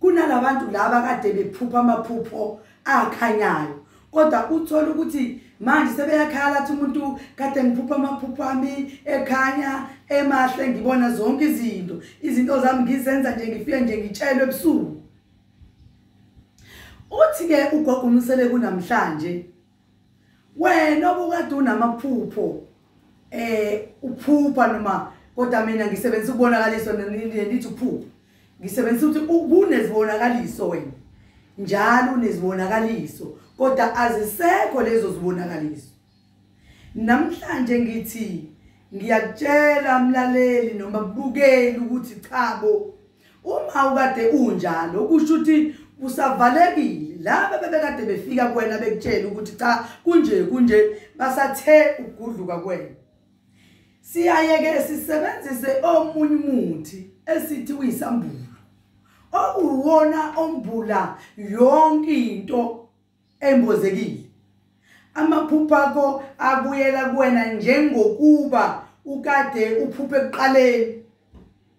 kunalabantu laba kade bephupha amaphupho akhanyayo kodwa uthola ukuthi manje sebeyakhala athi umuntu kade ngiphupha amaphupho ami ekhanya emahle ngibona zonke izinto izinto zami ngizenza nje ngifike nje ngitshelwe ebusuku uthi-ke ugogo umsele kunamhlanje wena obukade unamaphupho eh uphupha noma kodwa mina ngisebenzisa ukubonakaliswa nenithi uphupha ngisebenzisa ukuthi kunezibonakaliso wena njalo unezibonakaliso kodwa azisekho lezo zibonakaliso namhlanje ngithi ngiyakutshela mlaleli noma kubukeli ukuthi cha bo Uma ukade unjalo kusho ukuthi usavalekile laba bebekade befika kuwena bekutshela ukuthi cha kunje kunje basathe ukugudluka kwena siyayeke sisebenzise omunye umuthi esithi uyisambulo okuwona ombula yonke into embozekile amaphupha akho abuyela kuwena njengokuba ukade uphuphe ekuqaleni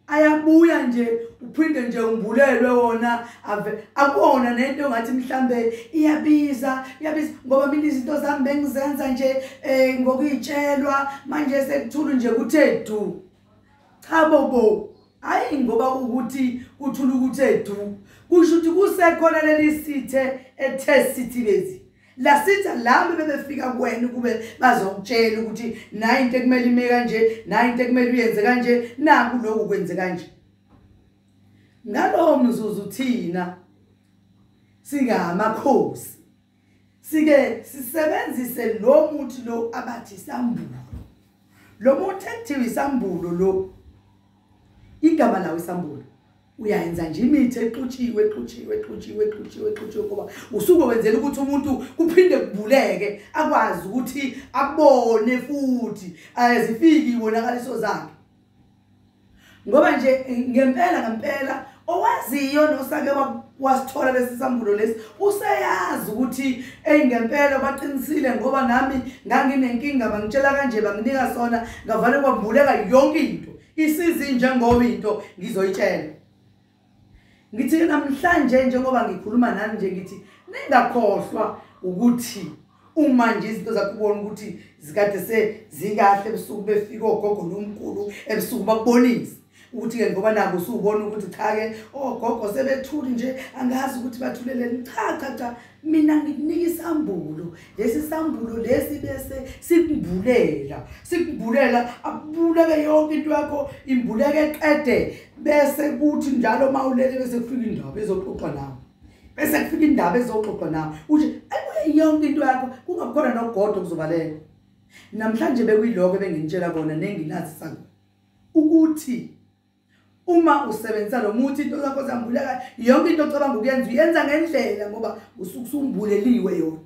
ayabuya nje uphinde nje umbulelwe wona ave akuwona nento ongathi mhlambe iyabiza iyabiza ngoba mina izinto zami bengizenza nje um ngokuyitshelwa manje sekuthulu nje kuthe du cha bobo hayi ngoba ukuthi kuthula ukuthi edu kusho ukuthi kusekhona leli sithe ethe sithi bezi la sitha lami bebefika kuwena ukube bazokutshela ukuthi nayi into ekumele ime kanje nayi into ekumele uyenze kanje naku lokhu kwenze kanje ngalowo mzuzu thina singamakhosi sike sisebenzise lo muthi lo abathi sambulo lo muthi ekuthiwa isambulo lo igama lawo isambulo uyayenza nje imithi exutshiwe exutshiwe exutshiwe exutshiwe exutshiwe ngoba usuke wenzela ukuthi umuntu kuphinde kubuleke akwazi ukuthi abone futhi azifiki wonakaliso zakhe ngoba nje ngempela ngempela owaziyo nosake wasithola lesi sambulo lesi useyazi ukuthi eyi ngempela baqinisile ngoba nami nganginenkinga bangitshela kanje banginika sona ngavane kwavuleka yonke into isizi njengoba into ngizoyitshela ngithi namhlanje njengoba ngikhuluma nani nje ngithi ningakhohlwa ukuthi uma nje izinto zakho ubona ukuthi zikade sezikahle ebusuku befika ogogo nomkhulu ebusuku bakubonise ukuthi-ke ngoba nabo usubona ukuthi cha-ke ogogo sebethuli nje angazi ukuthi bathuleleni cha cha cha mina ngikunika isambulo lesi sambulo lesi bese sikumbulela sikumbulela akubuleke yonke into yakho imbuleke qede bese kuthi njalo uma ulele bese kufika indaba ezoxoxa nawe bese kufika indaba ezoxoxa nawe uthi yonke into yakho kungakhona nogodo kuzobaleka namhlanje bekuyiloko ebengintshela kona nengilazi sanga ukuthi uma usebenzisa lo muthi into zakho zambuleka yonke into ocabanga ukuyenza uyenza ngendlela ngoba usuke usumbuleliwe yona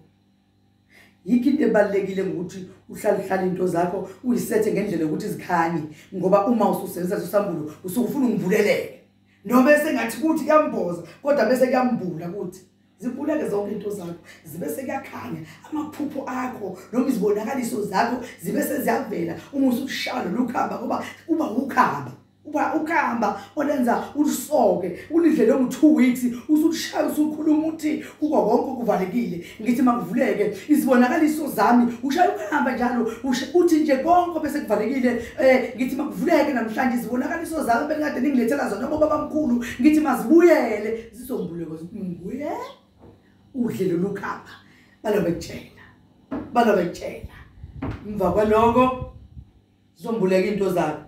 yikho into ebalulekile ngokuthi uhlale uhlale into zakho uyisethe ngendlela yokuthi zikhanye ngoba uma ususebenzisa sosambulo usuke ufuna umbuleleke noma esengathi kuthi kuyamboza kodwa bese kuyambula kuthi zibuleke zonke into zakho zibe sekuyakhanya amaphupho akho noma izibonakaliso zakho zibe seziyavela uma usushaya lolu khamba ngoba uba ukhamba uba ukhamba olenza ulisoke ulidlele ngo-two weeks usukushaya usukhuluma ukuthi kuko konke okuvalekile ngithi makuvuleke izibonakaliso zami ushaya ukuhamba njalo uthi nje konke bese kuvalekile um ngithi makuvuleke namhlanje izibonakaliso zami bengikade ningilethela zona bobabamkhulu ngithi mazibuyele Isisombuluko nguye udle lolu khapha balobekutshela balobekutshela emva kwaloko zizombuleka into zakho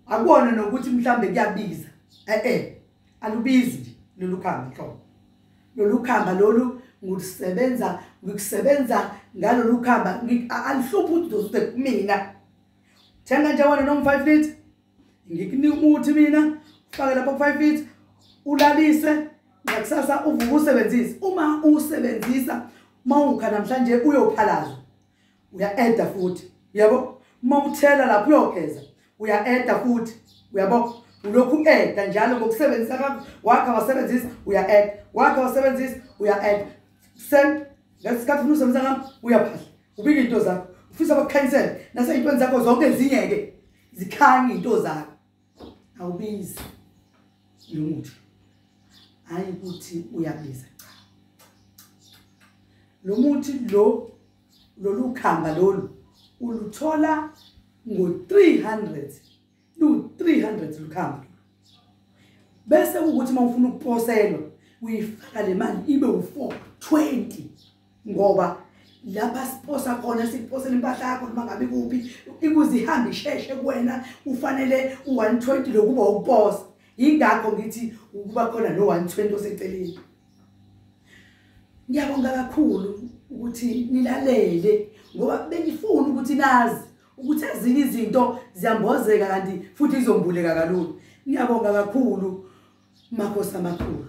akubona nokuthi mhlambe kuyabiza eh eh alubizi nje lolu khamba nhlobo lolu khamba lolu ngikusebenza ngikusebenza ngalolu khamba alihluphi ukuthi uzozibheka kumina thenga nje wena noma 5 litre ngikunika umuthi mina ufake lapho ku-five feet ulalise ngakusasa uvuke usebenzise uma usebenzisa uma ungukha namhlanje uyophalazwa uya-eda futhi uyabo uma uthela lapho uyogeza uya-eda futhi uyabo ulokhu u-eda njalo ngokusebenzisa kakho wakha wasebenzisa uya-eda wakha wasebenzisa uya-eda sen ngesikhathi funa usebenzisa ngam uyaphahla ubike into zakho ufisa bakucancel naseyintweni zakho zonke ezinye-ke zikhanye into zakho awubizi lo muthi hhayi ukuthi uyabiza cha lo muthi lo lolu khamba lolu uluthola ngo-300 lu-300 lukhamba bese ukuthi uma ufuna ukuposelwa uyifaka le mali ibe u-420 ngoba lapha siposa khona siposela impahla yakho noma ngabe kuphi ikuze ihambe isheshe kuwena ufanele u-120 lokuba ukuposa yingakho ngithi ukuba khona no-120 oseceleni ngiyabonga kakhulu ukuthi nilalele ngoba bengifuni ukuthi nazi ukuthi ezinye izinto ziyambozeka kanti futhi izombuleka kalula ngiyabonga kakhulu makhosi amakhulu